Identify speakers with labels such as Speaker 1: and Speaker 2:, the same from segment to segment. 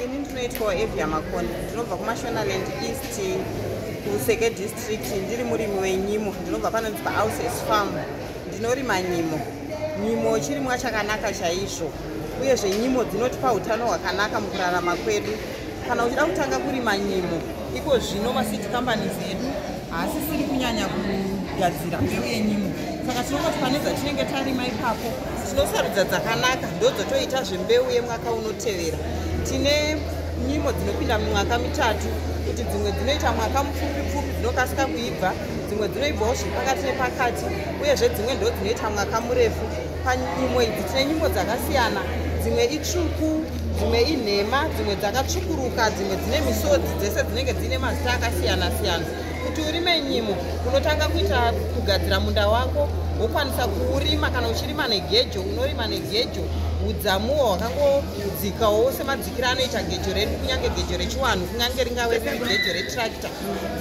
Speaker 1: ini ndinoitwa evia makoni ndinobva kumashonaland east kuseke district ndiri murimi wenyimo ndinobva panonzi pahouses farm ndinorima nyimo nyimo chirimwa chakanaka chaizvo uyezve nyimo dzinotipa utano hwakanaka mukurarama kwedu kana uchida kutanga kurima nyimo iko zvino masiti kambani zedu haasisiri kunyanya kugadzira mbeu yenyimo saka tinongoti pane dzatinenge tarima ipapo tinosarudza dzakanaka ndodzotoita zvembeu yemwaka unotevera tine nyimo dzinopinda mumwaka mitatu kuti dzimwe dzinoita mwaka mupfupi pfupi dzinokasika kuibva dzimwe dzinoibvawo zviri pakati nepakati uyezve dzimwe ndo dzinoita mwaka murefu panyimbo idzi tine nyimbo dzakasiyana dzimwe itsvuku dzimwe inhema dzimwe dzakatsvukuruka dzimwe dzine misodzi dzese dzinenge dzine mazita akasiyana siyana kuti urime nyimo unotanga kuita kugadzira munda wako wokwanisa kuurima kana uchirima negejo unorima negejo udzamuwo hwakangodzikawo semadzikiro anoita gejo redu kunyange gejo rechiwanhu kunyange ringave riri gejo retractor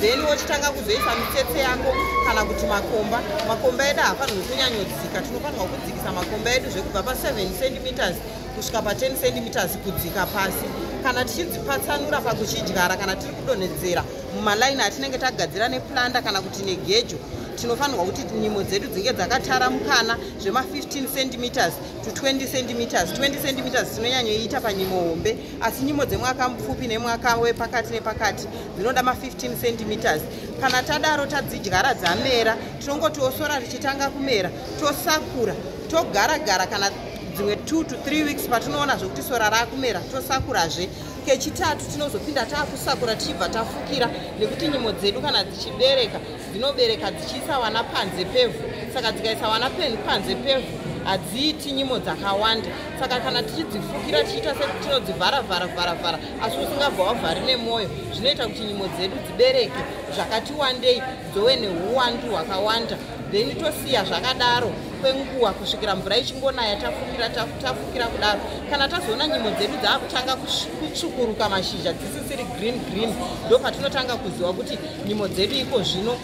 Speaker 1: then wochitanga kuzoisa mitsetse yako kana kuti makomba makomba edu hafanirwi kunyanyodzika tinofanirwa kudzikisa makomba edu zvekubva pa7 centimeters kusvika pa10 centimeters kudzika pasi kana tichidzipatsanura pakuchidyara kana tiri kudonhedzera mumalaini atinenge tagadzira neplanda kana kuti negejo tinofanirwa kuti nyimo dzedu dzinge dzakataramukana zvema15 centimeters to 20 centimeters 20 centimeters tinonyanyoiita panyimo hombe asi nyimo dzemwaka mupfupi nemwaka wepakati nepakati dzinoda ma15 centimeters kana tadaro tadzidyara dzamera tinongotiwo sora richitanga kumera tosakura togara gara kana dzimwe two to three weeks patinoona zvekuti sora raakumera tosakurazve kechitatu tinozopinda taakusakura tichibva tafukira nekuti nyimo dzedu kana dzichibereka dzinobereka dzichiisa wana panze pevhu saka dzikaisa wana panze pevhu hadziiti nyimo dzakawanda saka kana tichidzifukira tichiita setinodzivhara vhara vhara vhara asi usingabva wavhari nemwoyo zvinoita kuti nyimo dzedu dzibereke zvakati wandei dzove neuwandu hwakawanda then tosiya zvakadaro kwenguva kusvikira mvura ichingonaya tafukira tafukira kudaro kana tazoona nyimo dzedu dzaakutanga kutsvukuruka mashizha dzisisiri green green ndopatinotanga kuziva kuti nyimo dzedu iko zvino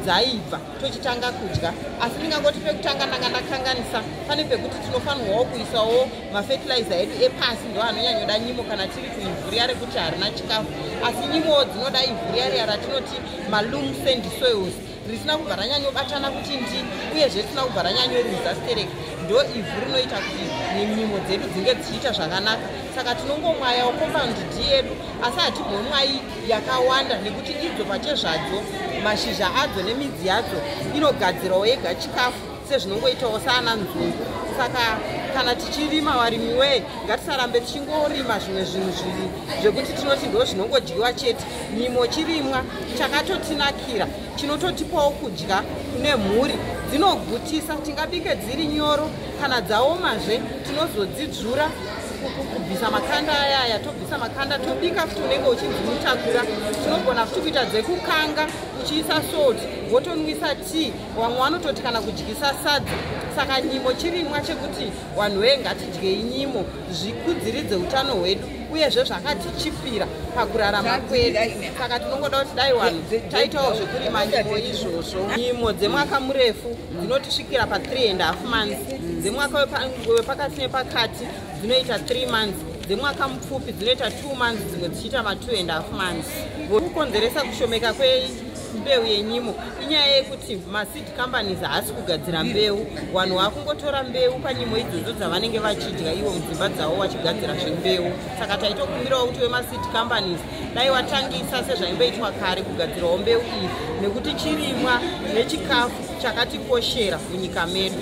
Speaker 1: dzaibva tochitanga kudya asi ndingangoti pekutanga ndanga ndakanganisa pane pekuti tinofanirwawo kuisawo mafetilizer edu epasi ndo anonyanyoda nyimo kana tiri kuivhuriya rekuti harina chikafu asi nyimowo dzinoda ivhuriya riya ratinoti malum sand soils risina kubva ranyanyobatana kuti ndi uyezve risina kubva ranyanyoruza stereki ndo ivhu rinoita kuti nyimo dzedu dzinge dzichiita zvakanaka saka tinongomwayawo compound d yedu asi hatimhomwayi yakawanda nekuti idzo pachezvadzo mashizha adzo nemidzi yadzo inogadzirawo yega chikafu sezvinongoitawo saana nzungu saka kana tichirima varimi wee ngatisarambe tichingorima zvimwe zvinhu zviri zvekuti tinoti ndo zvinongodyiwa chete nyimo chirimwa chakatotinakira chinototipawo kudya kune mhuri dzinogutisa tingabike dziri nyoro kana dzaomazve tinozodzidzvura kubvisa makanda aya aya tobvisa makanda tobika futi unenge uchinzi mutakura tinogona futi kuita dzekukanga uchiisa salt wotonwisa tea vamwe vanototi kana kudyisa sadza saka nyimo chirimwa chekuti vanhu vee ngatidyei nyimo zvikudziridze utano hwedu uyezve zvakatichipira pakurarama kwedu saka tinongoda kuti dai vanhu taitawo zvekurima nyimo izvozvo nyimo dzemwaka murefu dzinotisvikira pa 3 and half months dzemwaka wepakati nepakati dzinoita 3 months dzemwaka mupfupi dzinoita 2 months dzimwe dzichiita ma 2 and half months kukonzeresa kushomeka kwembeu yenyimo inyaya yekuti maseed companies haasi kugadzira mbeu vanhu vakungotora mbeu panyimo idzodzo dzavanenge vachidya ivo mudzimba dzavo vachigadzira zvembeu saka taitokumbirawo kuti wemaseed companies dai watangisa sezvaimboitwa kare kugadzirawo mbeu iyi nekuti chirimwa nechikafu chakatikoshera munyika medu